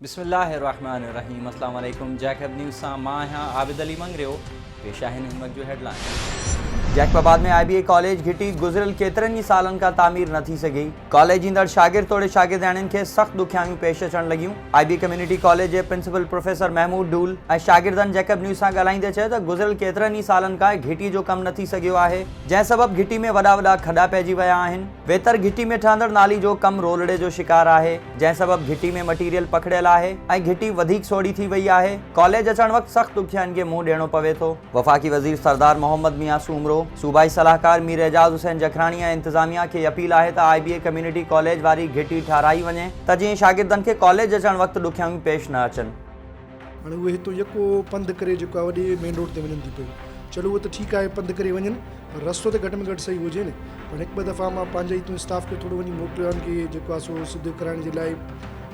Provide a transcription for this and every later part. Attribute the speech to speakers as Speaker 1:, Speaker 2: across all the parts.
Speaker 1: بسم الله الرحمٰن الرحيم اسلام عليڪم جيڪ هب نيوز سان مان آهيان عابد علي مڱريو پيش آهن هن وقت جو headline Jacobabad ۾ I B A college گهٽي گذريل ڪيترن ئي سالن کان تعمير نه ٿي سگهي ڪاليج ايندڙ شاگرد توڙي شاگردياڻين کي سخت ڏکيائيون پيش اچڻ لڳيون آء بي ڪميونٽي ڪاليج جي پرنسپل پروفيسر محمود ڊول ۽ شاگردن جيڪب نيوز سان ڳالهائيندي چيو ته گذريل ڪيترن ئي سالن کان گهٽي جو ڪم نه ٿي سگهيو آهي جنهن سبب گهٽي ۾ وڏا وڏا کڏا پئجي ويا آهن. ويتر گهٽي ۾ ٺهندڙ نالي جو ڪم رولڙي جو شڪار آهي، جنهن سبب گهٽي ۾ مٽيريل پکڙيل آهي ۽ گهٽي وڌيڪ سوڙهي ٿي وئي آهي. ڪاليج اچڻ وقت سخت ڏکيائين کي منهن ڏيڻو پوي ٿو. وفاقي وزير سردار محمد ميان سومرو، صوبائي صلاحڪار مير اعجاز حسين جکراڻي ۽ انتظاميا کي اپيل آهي ته I B A community college واري گهٽي ٺهرائي وڃي ته جيئن شاگردن کي ڪاليج اچڻ وقت ڏکيائيون پيش نه اچن. هاڻي اهي
Speaker 2: هتو يڪو پنڌ ڪري جيڪو آهي وڏي مين روڊ تي وڃن ٿيون پيون. چلو اهو ته ٺيڪ آهي پنڌ ڪري وڃن پر رستو ته گهٽ ۾ گهٽ صحيح هجين. پر هڪ ٻه دفعا مان پنهنجي هتون اسٽاف کي ٿورو وڃي موڪليو آهي ان کي جيڪو آهي سو سڌو ڪرائڻ جي لاء ۽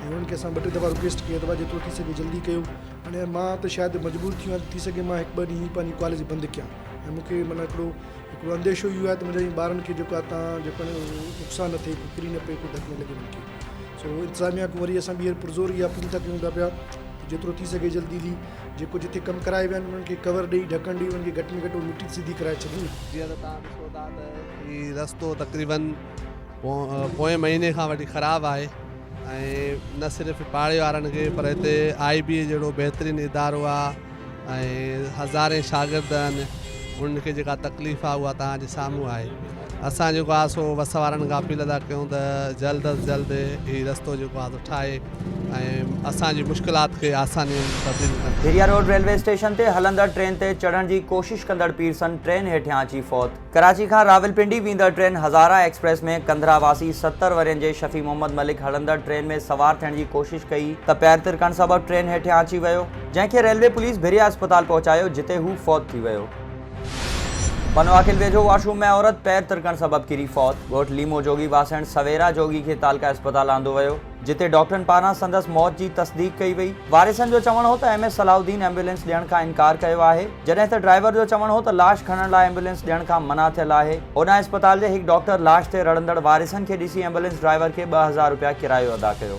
Speaker 2: انهن کي اسان ٻه ٽي دفعا رڪويسٽ ڪئي اٿو ڀاء جيترو ٿي سگهي جلدي ڪيو. هاڻي مان ته شايد مجبور ٿي ويان ته ٿي سگهي مان هڪ ٻه ڏينهن پنهنجي ڪاليج بند ڪيان ۽ مون کي معنيٰ هڪڙو هڪڙو انديشو اهو آهي ته منهنجا ٻارن کي جيڪو آهي تان جيڪو آهي نقصان نه ٿئي ڪو ڪري نه پئي ڪو ڌڪ نه لڳي مون کي سو انتظاميا کان وري اسان ٻيهر پرزور اها اپيل ٿا ڪيون ٿا پيا ته جيترو ٿي سگهي جلدي ٿي جيڪو جتي ڪم ڪرائي ويا آهن انهن کي ڪور ڏئي ڍڪڻ ڏئي انهن کي گهٽ ۾ گهٽ اها مٽي ته سڌي ڪرائي ڇڏون. جيئن ته توهان ڏسو
Speaker 3: ٿا ته هي رستو تقريبن پوئين مهيني کان وٺي خراب آهي ۽ نه صرف پاڙي وارن کي پر هتي آء بي اي جهڙو بهترين ادارو آهي ۽ هزارين شاگرد آهن انهن کي جيڪا تڪليف آهي اها توهان جي سامهون آهي اسان جيڪو آهي سو وس وارن کان اپيل ادا ڪيون ته جلد از جلد هي رستو جيڪو آهي سو ٺاهي ۽ اسان جي مشڪلات کي آساني ۾ تبديل ڪن ڀيريا روڊ ريلوي اسٽيشن
Speaker 1: تي هلندڙ ٽرين تي چڙهڻ جي ڪوشش ڪندڙ پيرسن ٽرين هيٺيان اچي فوت. ڪراچي کان راولپنڊي ويندڙ ٽرين هزاره ايڪسپريس ۾ ڪنڌرا واسي ستر ورهين جي شفيع محمد ملڪ هلندڙ ٽرين ۾ سوار ٿيڻ جي ڪوشش ڪئي ته پير ترڪڻ سبب ٽرين هيٺيان اچي ويو جنهن کي ريلوي پوليس ڀريا اسپتال پهچايو جتي هو فوت ٿي ويو. بنواخيل ويجهو واشروم ۾ عورت پير ترڪڻ سبب ڪري فوت، ڳوٺ ليمو جوڳي واسڻ سويرا جوڳي کي تعلقه اسپتال آندو ويو. جتي ڊاڪٽرن پاران سندس موت جي تصديق ڪئي وئي. وارثن جو چوڻ هو ته M S Salahuddin ambulance ڏيڻ کان انڪار ڪيو آهي، جڏهن ته ڊرائيور جو چوڻ هو ته لاش کڻڻ لاء ايمبولينس ڏيڻ کان منع ٿيل آهي. اوڏانهن اسپتال جي هڪ ڊاڪٽر لاش تي رڙندڙ وارثن کي ڏسي ايمبولينس ڊرائيور کي ٻه هزار رپيا ڪرايو ادا ڪيو.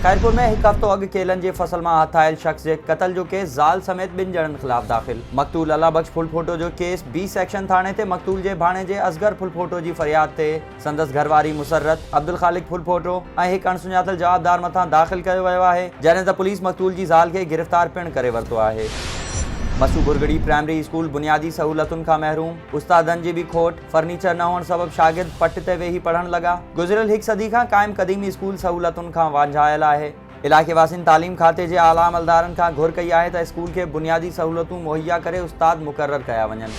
Speaker 1: خيرپور ۾ هڪ هفتو اڳ ڪيلن جي فصل مان هٿ آيل شخص جي قتل جو ڪيس زال سميت ٻن ڄڻن خلاف داخل، مقتول الله بخش ڦلپوٽو جو ڪيس بي سيڪشن ٿاڻي تي مقتول جي ڀاڻيجي اصغر ڦلپوٽو جي فرياد تي سندس گهر واري مسرت عبدالخالق ڦلڦوٽو ۽ هڪ اڻسڃاتل جوابدار مٿان داخل ڪيو ويو آهي، جڏهن ته پوليس مقتول جي زال کي گرفتار پڻ ڪري ورتو آهي. مسو ڀرڳڙي پرائمري اسڪول بنيادي سهولتن کان محروم، استادن جي به کوٽ، فرنيچر نه هئڻ سبب شاگرد پٽ تي ويهي پڙهڻ لڳا، گذريل هڪ صدي کان قائم قديم اسڪول سهولتن کان وانجهايل آهي، علائقي واسين تعليم کاتي جي اعليٰ عملدارن کان گهر ڪئي آهي ته اسڪول کي بنيادي سهولتون مهيا ڪري استاد مقرر ڪيا وڃن.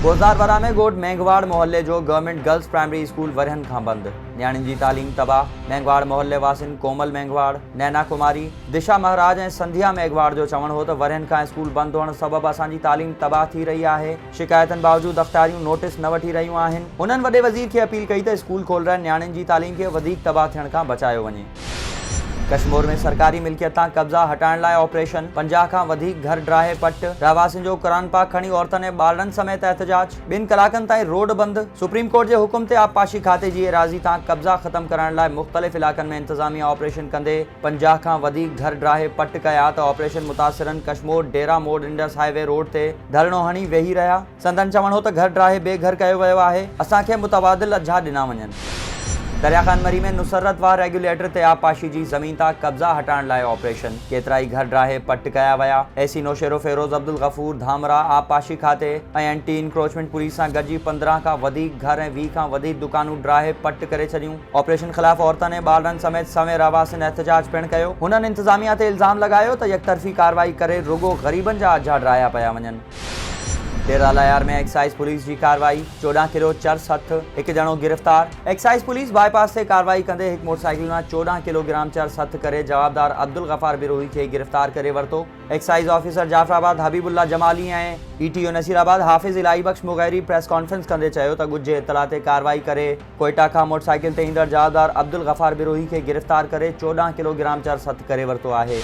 Speaker 1: بوزدار ورهه ۾ ڳوٺ مينگهواڙ محلي جو گورنمينٽ گرلز پرائمري اسڪول ورهين کان بند، نياڻين جي تعليم تباهه، مينگهواڙ محلي واسين ڪومل مينگهواڙ، نينا ڪماري، دشا مهراج ۽ سنڌيا ميگهواڙ جو چوڻ هو ته ورهين کان اسڪول بند هئڻ سبب اسان جي تعليم تباهه ٿي رهي آهي، شڪايتن باوجود اختاريون نوٽس نه وٺي رهيون آهن، هنن وڏي وزير کي اپيل ڪئي ته اسڪول کولرائي نياڻين جي تعليم کي وڌيڪ تباهه ٿيڻ کان بچايو وڃي. ڪشمور ۾ سرڪاري ملڪيت تان قبضا هٽائڻ لاء آپريشن، پنجاهه کان وڌيڪ گهر ڊاهي پٽ، رهواسين جو قرآن پاڪ کڻي عورتن ۽ ٻارڙن سميت احتجاج، ٻن ڪلاڪن تائين روڊ بند، سپريم ڪورٽ جي حڪم تي آبپاشي کاتي جي ايراضي تان قبضا ختم ڪرائڻ لاء مختلف علائقن ۾ انتظاميا آپريشن ڪندي پنجاهه کان وڌيڪ گهر ڊاهي پٽ ڪيا ته آپريشن متاثرن Kashmore Dera Mor Indus highway road تي ڌرڻو هڻي ويهي رهيا. سندن چوڻ هو ته گهر ڊاهي بي گهر ڪيو ويو آهي، اسان کي متبادل اجها ڏنا وڃن. دريا خان مري ۾ نصرت واهه ريگيوليٽر تي آبپاشي جي زمين تان قبضا هٽائڻ لاء آپريشن، ڪيترائي گهر ڊاهي پٽ ڪيا ويا، اي سي نوشهرو فيروز عبدالغفور ڌامراهه آبپاشي کاتي ۽ اينٽي انڪروچمينٽ پوليس سان گڏجي پندرهن کان وڌيڪ گهر ۽ ويهه کان وڌيڪ دڪانون ڊاهي پٽ ڪري ڇڏيون، آپريشن خلاف عورتن ۽ ٻارڙن سميت سوين رهواسين احتجاج پڻ ڪيو، هنن انتظاميا تي الزام لڳايو ته يڪطرفي ڪارروائي ڪري رڳو غريبن جا اجها ڊاهيا پيا وڃن. ڏيرالهيار ۾ ايڪسائيز پوليس جي ڪارروائي، چوڏهن ڪلو چرس هٿ، هڪ ڄڻو گرفتار، ايڪسائيز پوليس باء پاس تي ڪارروائي ڪندي هڪ موٽرسائيڪل مان چوڏهن ڪلو گرام چرس هٿ ڪري جوابدار عبدالغفار بروهي کي گرفتار ڪري ورتو، excise officer Jaffarabad Habibullah Jamali ۽ A T O Nasirabad Hafiz Elahi Bux Mugheri press conference ڪندي چيو ته ڳجهي اطلاع تي ڪارروائي ڪري ڪوئيٽا کان موٽرسائيڪل تي ايندڙ جاهدار عبدالغفار بروهي کي گرفتار ڪري چوڏهن ڪلوگرام چرس هٿ ڪري ورتو آهي.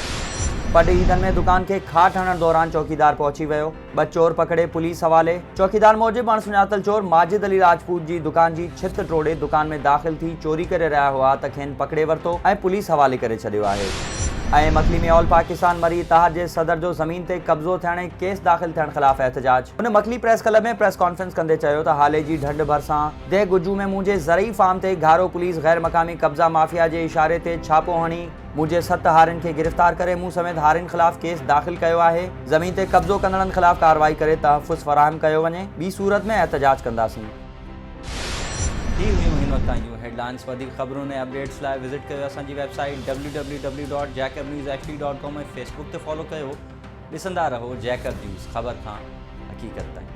Speaker 1: پڊ عيدن ۾ دڪان کي کاٽ هڻڻ دوران چوڪيدار پهچي ويو، ٻه چور پڪڙي پوليس حوالي. چوڪيدار موجب اڻسڃاتل چور ماجد علي راجپوت جي دڪان جي ڇت ٽوڙي دڪان ۾ داخل ٿي چوري ڪري رهيا هئا ته کين پڪڙي ورتو ۽ پوليس حوالي ڪري ڇڏيو آهي. اين مڪلي ۾ آل پاڪستان مري اتحاد جي صدر جو زمين تي قبضو ٿيڻ ۽ ڪيس داخل ٿيڻ خلاف احتجاج. هن Makli press club ۾ press conference ڪندي چيو ته هالي جي ڍنڍ ڀرسان ديھ گجو ۾ منهنجي زرعي فارم تي گهارو پوليس غير مقامي قبضا مافيا جي اشاري تي ڇاپو هڻي منهنجي ست هارين کي گرفتار ڪري مون سميت هارين خلاف ڪيس داخل ڪيو آهي زمين تي قبضو ڪندڙن خلاف ڪارروائي ڪري تحفظ فراهم ڪيو وڃي ٻي صورت ۾ احتجاج ڪنداسين. هي هيون هن وقت تائين جون هيڊ لائنز وڌيڪ خبرن ۽ اپڊيٽس لاء وزٽ ڪيو اسان جي website W W W dot Jacob news H D dot com ۽ Facebook تي فالو ڪيو ڏسندا رهو جيڪب نيوز خبر کان حقيقت تائين.